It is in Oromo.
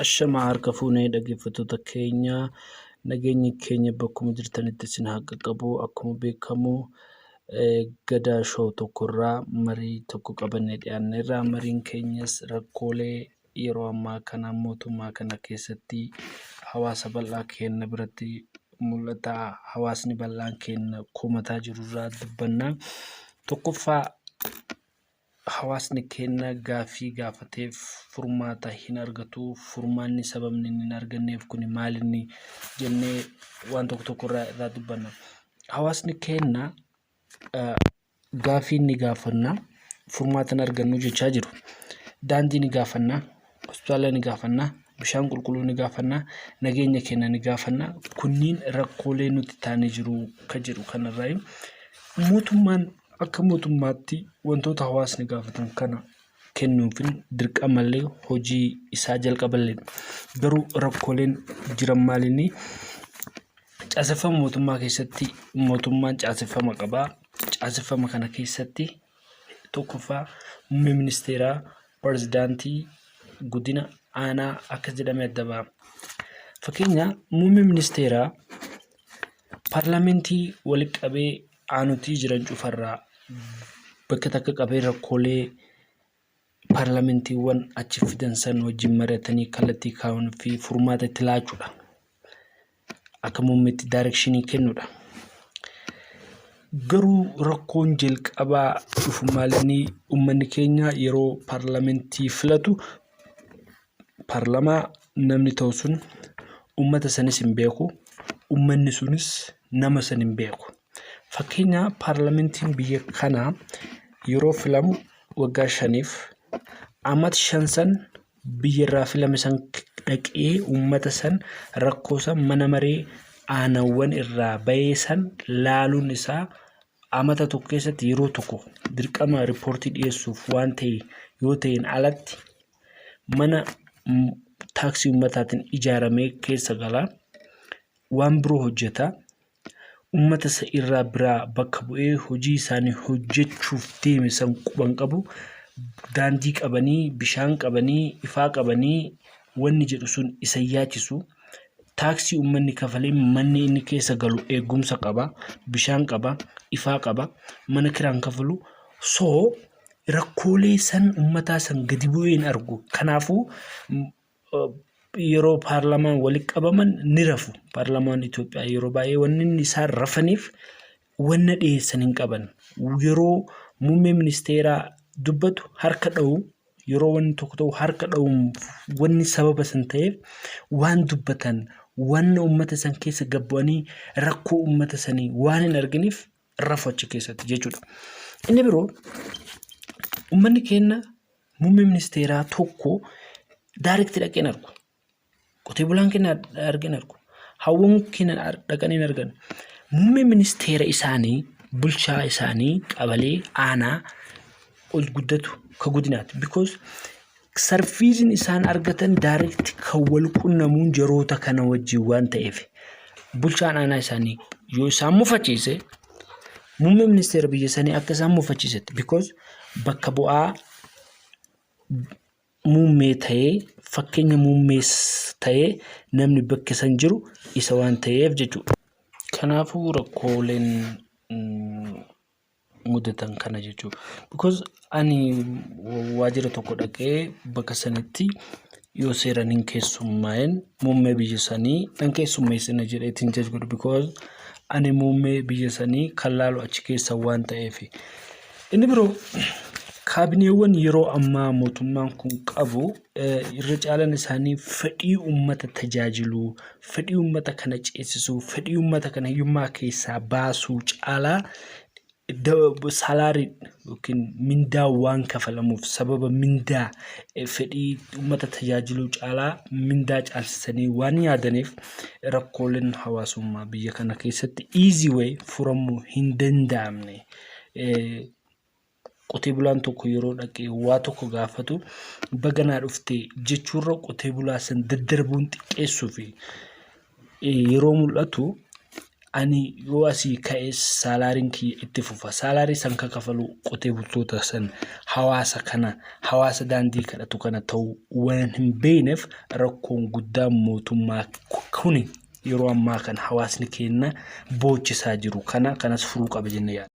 Ashamaa harka fuunee dhaggeeffattoota keenya nageenyi keenya bakkuma jirtanitti isin haa qaqqabu akkuma beekamu eh, gadaa shoo tokkorraa marii tokko qabannee dhiyaanneerra mariin keenyas rakkoolee yeroo ammaa kana mootummaa kana keessatti hawaasa bal'aa keenna biratti mul'ata hawaasni bal'aan keenna komataa jiru irraa dubbanna. Tokkoffaa hawaasni keenna gaaffii gaafateef furmaata hin argatu. Furmaanni sababni inni hin arganneef kun maal inni jennee waan tokko tokko irraa irraa dubbanna. Hawaasni keenna Gaaffii ni gaafanna, furmaata hin argannu jechaa jiru. Daandii ni gaafanna, hospitaala ni gaafanna, bishaan qulqulluu ni gaafanna, nageenya keenya ni gaafanna. Kunniin rakkoolee nutti ta'anii jiru kan jedhu kanarraayi. Mootummaan akka mootummaatti wantoota hawaasni gaafatan kana... kennuunfin dirqamallee hojii isaa jalqaballee garuu rakkooleen jiran maalinni caaseffama mootummaa keessatti mootummaan caaseffama qabaa caaseffama kana keessatti tokkoffaa muummee ministeeraa pirezidaantii guddina aanaa akka jedhame adda ba'a. Fakkeenya muummee ministeeraa paarlamentii walitti qabee aanutii jiran cufarraa bakka takka qabee rakkoolee paarlamentiiwwan achi fidan san wajjin mari'atanii kallattii kaa'uun fi furmaata itti laachuudha. Akka muummeetti daayirekshinii kennuudha. Garuu rakkoon jalqabaa dhufu maalinni uummanni keenya yeroo paarlamentii filatu parlamaa namni ta'u sun ummata sanis hin beeku ummanni sunis nama san hin beeku fakkeenya paarlamentiin biyya kanaa yeroo filamu waggaa shaniif amat shan san biyya irraa filame san dhaqee ummata san rakkoo san mana maree aanawwan irraa ba'ee san laaluun isaa amata tokko keessatti yeroo tokko dirqama riippoortii dhiyeessuuf waan ta'e yoo ta'een alatti mana taaksii ummataatiin ijaaramee keessa gala. Waan biroo hojjeta. Ummata isa irraa biraa bakka bu'ee hojii isaanii hojjechuuf deeme san quban qabu. Daandii qabanii, bishaan qabanii, ifaa qabanii wanni jedhu sun isa yaachisu. Taaksii ummanni kafalee manni inni keessa galu eegumsa qaba, bishaan qaba, ifaa qaba, mana kiraan kafalu. So rakkoolee san ummataa san gadi bu'ee hin argu. Kanaafuu yeroo paarlamaan walitti qabaman ni rafu. Paarlamaan Itoophiyaa yeroo baay'ee wanni inni isaan rafaniif wanna dhiyeessan hin qaban. Yeroo muummee ministeeraa dubbatu harka dha'u yeroo wanni tokko ta'u harka dha'u wanni sababa san ta'eef waan dubbatan wanna ummata san keessa gabbu'anii rakkoo ummata sanii waan hin arginiif rafu achi keessatti jechuudha. Inni biroo ummanni keenya muummee ministeeraa tokko daarekti dhaqee hin argu. Qotee bulaan keenya argee hin argu. Hawwan keenya dhaqanii hin argan. Muummee ministeera isaanii bulchaa isaanii qabalee aanaa ol guddatu ka godinaati. Because Sarfiisiin isaan argatan direct kan wal qunnamuun jaroota kana wajjin waan ta'eef bulchaan aanaa isaanii yoo isaan mufachiise muummee ministeera biyya sanii akka isaan mufachiisetti because bakka bu'aa muummee ta'ee fakkeenya muummees ta'ee namni bakka san jiru isa waan ta'eef jechuudha. Kanaafuu rakkooleen mudatan kana jechuudha. Because ani waajjira tokko dhaqee bakka sanitti yoo seeran hin keessummaa'in muummee biyya sanii nan keessummeessina jedheetiin jaj godhu because ani muummee biyya sanii kan laalu achi keessa waan ta'eef. Inni biroo kaabineewwan yeroo ammaa mootummaan kun qabu irra caalan isaanii fedhii uummata tajaajiluu, fedhii uummata kana ceesisuu, fedhii uummata kana hiyyummaa keessaa baasuu caalaa salaarii yookiin mindaa waan kafalamuuf sababa mindaa fedhii uummata tajaajiluu caalaa mindaa caalsisanii waan yaadaniif rakkooleen hawaasummaa biyya kana keessatti easy way furamuu hin danda'amne. Qotee bulaan tokko yeroo dhaqee waa tokko gaafatu baga naa dhufte jechuurra qotee bulaa san daddarbuun xiqqeessuu fi yeroo mul'atu ani yoo asii ka'e saalaariin kiyya itti fufa saalaarii san ka kafalu qotee bultoota san hawaasa kana hawaasa daandii kadhatu kana ta'uu waan hin beekneef rakkoon guddaan mootummaa kuni yeroo ammaa kana hawaasni keenya boochisaa jiru kana kanas furuu qaba jennee yaadna.